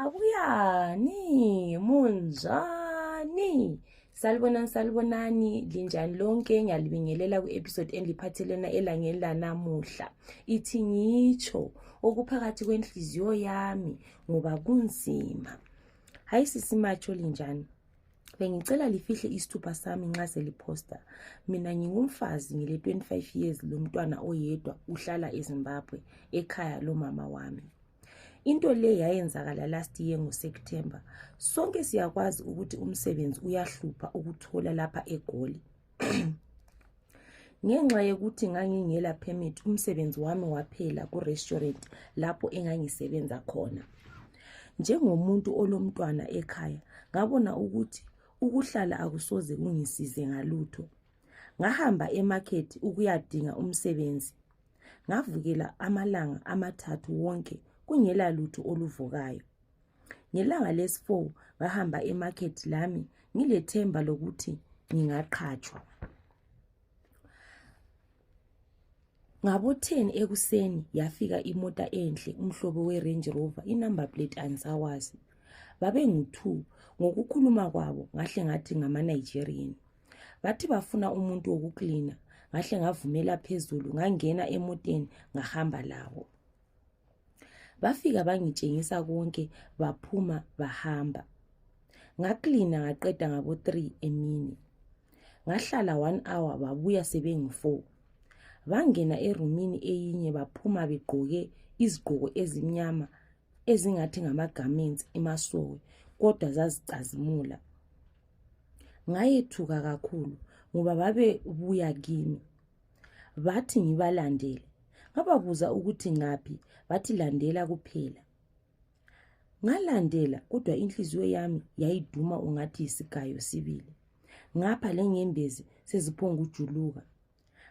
Abuyani, munjani? Salibonani, salibonani, linjani lonke, ngiyalibingelela ku-episode endiphathelena elangeni lanamuhla. Ithi ngitsho okuphakathi kwenhliziyo yami ngoba kunzima. Hayi sisi matsho linjani? Bengicela lifihle isithupha sami nxa seliphosta. Mina ngingumfazi ngile 25 years lomntwana oyedwa uhlala eZimbabwe ekhaya lomama wami. into le yayenzakala last year ngoseptember sonke siyakwazi ukuthi umsebenzi uyahlupha ukuthola lapha egoli ngenxa yokuthi ngangingela permit umsebenzi wami waphela kurestaurant lapho engangisebenza khona njengomuntu olomntwana ekhaya ngabona ukuthi ukuhlala akusoze kungisize ngalutho ngahamba emakhethi ukuyadinga umsebenzi ngavukela amalanga amathathu wonke kungela lutho oluvukayo ngelanga lesi-4 ngahamba emakhethi lami ngilethemba lokuthi ngingaqhatshwa ngabotheni ekuseni yafika imota enhle umhlobo we-range rover inumber plate andisawazi babengu-two ngokukhuluma kwabo ngahle ngathi ngama-nigerian bathi bafuna umuntu wokuklina ngahle ngavumela phezulu ngangena emoteni ngahamba labo bafika bangitshengisa konke baphuma bahamba ngaklina ngaqeda ngabo 3 emini ngahlala 1 hour babuya sebengu-4 bangena erumini eyinye baphuma begqoke izigqoko ezimnyama ezingathi ngamagarments emasowe kodwa zazicazimula ngayethuka kakhulu ngoba babebuya kimi bathi ngibalandele ngababuza ukuthi ngaphi bathi landela kuphela ngalandela kodwa inhliziyo yami yayiduma ungathi yisigayo sibili ngapha lenyembezi seziphongujuluka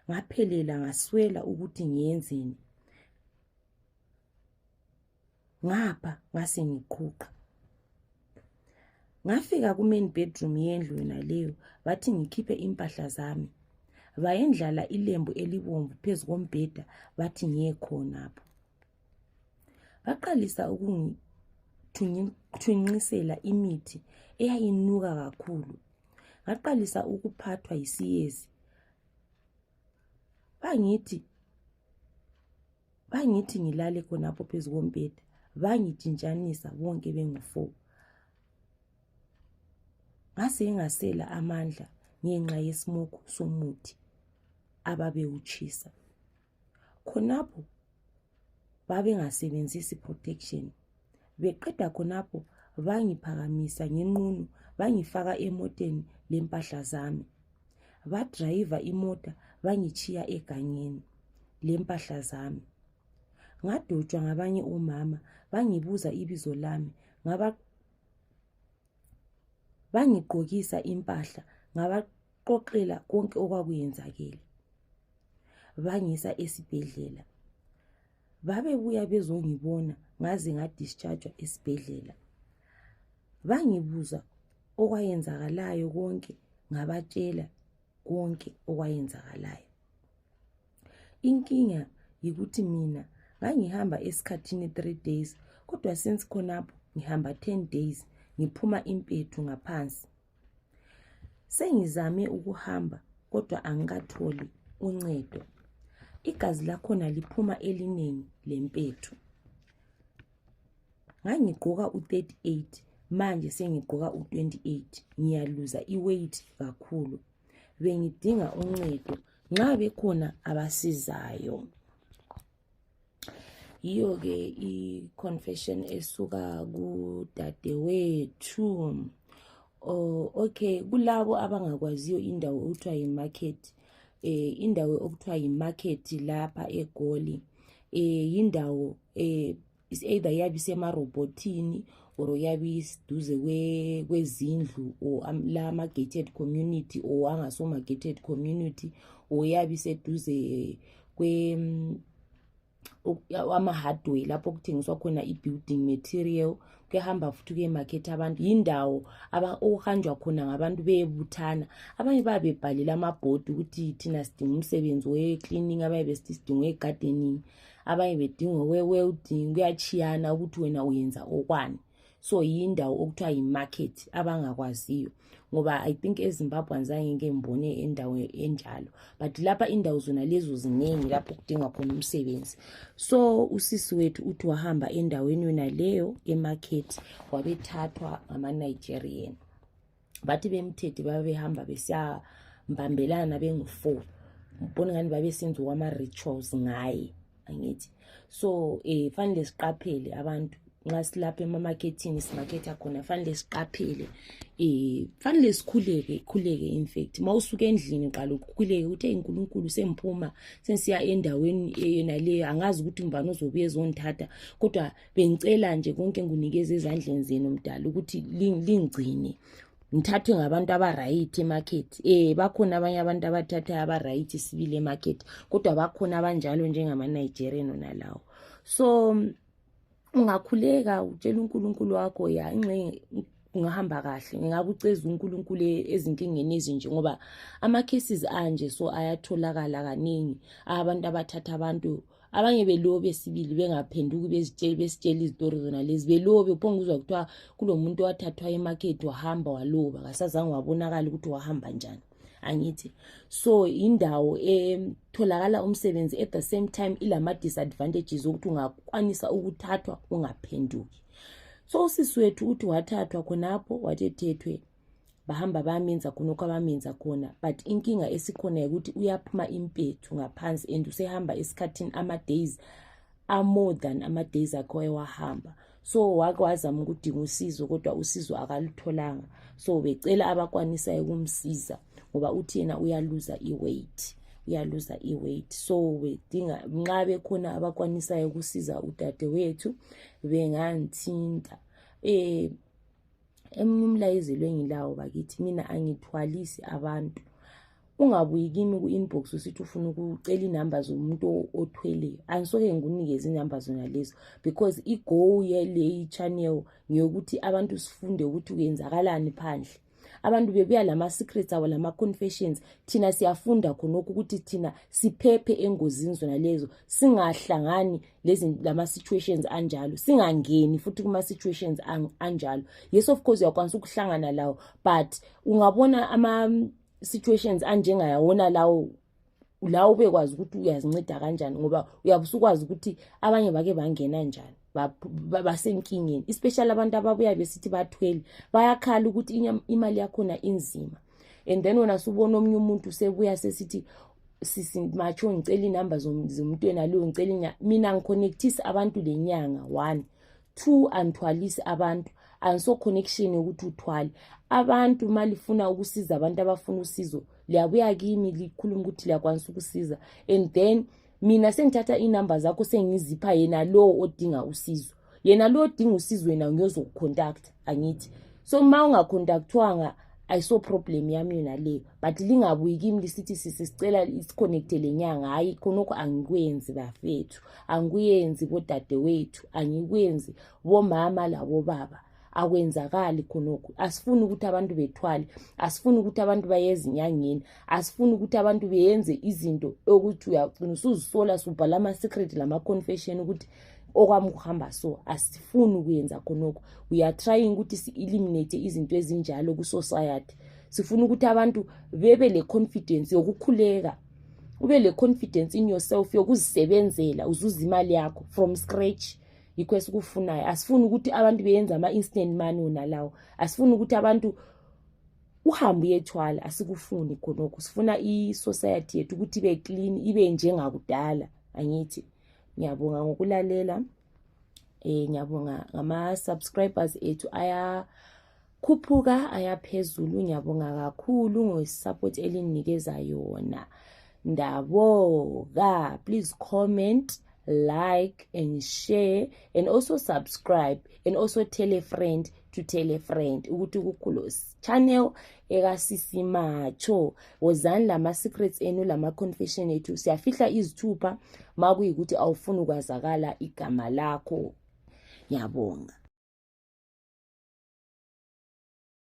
ngaphelela ngaswela ukuthi ngiyenzeni ngapha ngase ngiqhuqha ngafika kumain bedroom yendlu yona leyo bathi ngikhiphe impahla zami bayendlala ilembu elibomvu phezu kombheda bathi ngiye khonapho baqalisa ukungithunqisela imithi eyayinuka kakhulu ngaqalisa ukuphathwa yisiyezi bangithi bangithi ngilale khonapho phezu kombheda bangitshintshanisa bonke bengu-fo ngase engasela amandla ngenxa yesimoku somuthi ababewutshisa khonapho babengasebenzisi protection beqeda khonapho bangiphakamisa ngenqunu bangifaka emoteni lempahla zami badrayiva imota bangitshiya egangeni lempahla zami ngadotshwa ngabanye omama bangibuza ibizo lami ngaba bangigqokisa impahla ngabaqoqela konke okwakuyenzakele bangisa esibhedlela babebuya bezongibona ngaze ngadischargwa esibhedlela bangibuza okwayenzakalayo konke ngabatshela konke okwayenzakalayo inkinga yikuthi mina ngangihamba esikhathini three days kodwa since khonapho ngihamba ten days ngiphuma impethu ngaphansi Sengizame ukuhamba kodwa angikatholi uncedo. Igazi lakhona liphuma elinengi lempethu. Ngangigqoka u-38 manje sengigqoka u-28 ngiyaluza i-weight kakhulu. Bengidinga uncedo nxa bekhona abasizayo. yiyo ke i-confession esuka kudadewethu oh, okay kulabo abangakwaziyo indawo okuthiwa yi-market eh, indawo okuthiwa yi-market lapha egoli eh, yindawo eh, is either yabe isemarobhothini or yabe isiduze kwezindlu or la ama-gated community or angasoma-gated community or yabe iseduze kwe mm, ama-hardway lapho okuthengiswa khona i-building material kuyahamba futhi kuyemakhethi abantu yindawo okuhanjwa khona ngabantu beyebuthana abanye babe bebhalele amabhodi ukuthi thina sidinga umsebenzi we-cleaning abaye besithi sidinga we-gardening abanye bedinga okwe-welding kuyatshiyana ukuthi wena uyenza okwani so yindawo okuthiwa yi-market abangakwaziyo ngoba i think ezimbabweans angeke ngibone endawo enjalo but lapha indawo zona lezo ziningi lapho kudinga khona umsebenzi so usisi wethu uthi wahamba endaweni yona leyo emarket wabethathwa ngama-nigerian bathi bemthethe babehamba besiyambambelana bengu-four mbona ngani babesenzi wama-rituals ngaye angithi so um eh, fanele siqaphele abantu nxa silapha emamakethini simaketha khona fanele siqaphele um fanele sikhuleke ikhuleke infact uma usuke endlini qala ukhuleke ukuthi eyi nkulunkulu sengiphuma sengisiya endaweni yona leyo angazi ukuthi mbani ozobuye ezongithatha kodwa bengicela nje konke nginikeza ezandleni zenu mdala ukuthi lingigcine ngithathwe ngabantu abaright emarket eh bakhona abanye abantu abathatha abaright sibili emarket kodwa bakhona abanjalo njengama-nigerian ona lawo so ungakhuleka utshela unkulunkulu wakho ya ingxenye kungahamba kahle ngingakuceza unkulunkulu e-, ezinkingeni ezinje ngoba ama-cases anje so ayatholakala kaningi abantu abathatha abantu abanye belobe sibili bengaphenduki bezitsheli besitshela izitori zona lezi belobe uphonge uzwa kuthiwa kulomuntu owathathwa emakhethi wahamba waloba kasazange wabonakala ukuthi wahamba njani angithi so indawo etholakala umsebenzi at the same time ilama-disadvantages okuthi ungakwanisa ukuthathwa ungaphenduki so usisi wethu uthi wathathwa khonapho wathethethwe bahamba bamenza khona okho abamenza khona but inkinga esikhona yokuthi uyaphuma impethu ngaphansi and usehamba esikhathini ama-days amore than ama-days akho ewahamba so wake wazama ukudinga usizo kodwa usizo akalutholanga so becela abakwanisayo ukumsiza ngoba uthi yena uyaluza i-weight uyaluza i-weight so bedinga nxa bekhona abakwanisayo ukusiza udadewethu benganthinta um eh, emunye umlayezo lwengilawo bakithi mina angithwalisi abantu ungabuyi kimi ku-inbox usithi ufuna ukucela inamba zomuntu othweleyo angisoke ngikunikeze inamba zona lezo because igow yeleyi channel ngeyokuthi abantu sifunde ukuthi kuyenzakalani phandle abantu bebuya lama-secrets abo lama-confessions thina siyafunda khonokho ukuthi thina siphephe engozini zona lezo singahlangani lama-situations anjalo singangeni futhi kuma-situations anjalo yes of course uyakwanisa ukuhlangana lawo but ungabona ama-situations anjengayawona lawo la ubekwazi ukuthi uyazinceda kanjani ngoba uyabe usukwazi ukuthi abanye bake bangena njani basenkingeni especially abantu ababuya besithi bathwele bayakhala ukuthi imali yakhona inzima and then wena subona omunye umuntu sebuya sesithi sisi matsho ngicela inumber zomntwena leyo ngicela mina ngiconnectise abantu le nyanga one two angithwalisi abantu angiso connection yokuthi uthwale abantu uma lifuna ukusiza abantu abafuna usizo liyabuya kimi likhuluma ukuthi liyakwanisa ukusiza and then mina sengithatha inumber zakho sengizipha yena lowo odinga usizo yena lowo odinga usizo wena ngiyozokucontact angithi so uma ungacontactwanga ayiso problem yami yona leyo but lingabuyi kimi lisithi sisi sicela isiconnecte le nyanga hhayi khonokho angikwenzi bafethu angikuyenzi bodadewethu angikwenzi bomama labobaba akwenzakali khonokhu asifuni ukuthi abantu bethwale asifuni ukuthi abantu bayezinyangeni asifuni ukuthi abantu beyenze izinto okuthi uyagcina usuzisola subhala ama-secret lama-confession ukuthi okwami kuhamba so asifuni ukuyenza khonokho we are trying ukuthi si-eliminate izinto ezinjalo kwi-society sifuna ukuthi abantu bebe le confidence yokukhuleka ube le confidence in yourself yokuzisebenzela uzuza imali yakho from scratch yikho esikufunayo asifuni ukuthi abantu beyenze ama-instant money wona lawo asifuni ukuthi abantu uhambe uyethwala asikufuni khonokho sifuna i-society yethu ukuthi ibe clean ibe njengakudala angithi ngiyabonga ngokulalela um ngiyabonga ngama-subscribers ethu aya khuphuka ayaphezulu ngiyabonga kakhulu ngosupport elinginikeza yona ndaboka please comment like and share and also subscribe and also tell a friend to tell a friend ukuthi kukulos channel ekasisimatsho wozani lama-secrets enu lama-confession ethu siyafihla izithupha ma kuyikuthi awufuni ukwazakala igama lakho Ngiyabonga.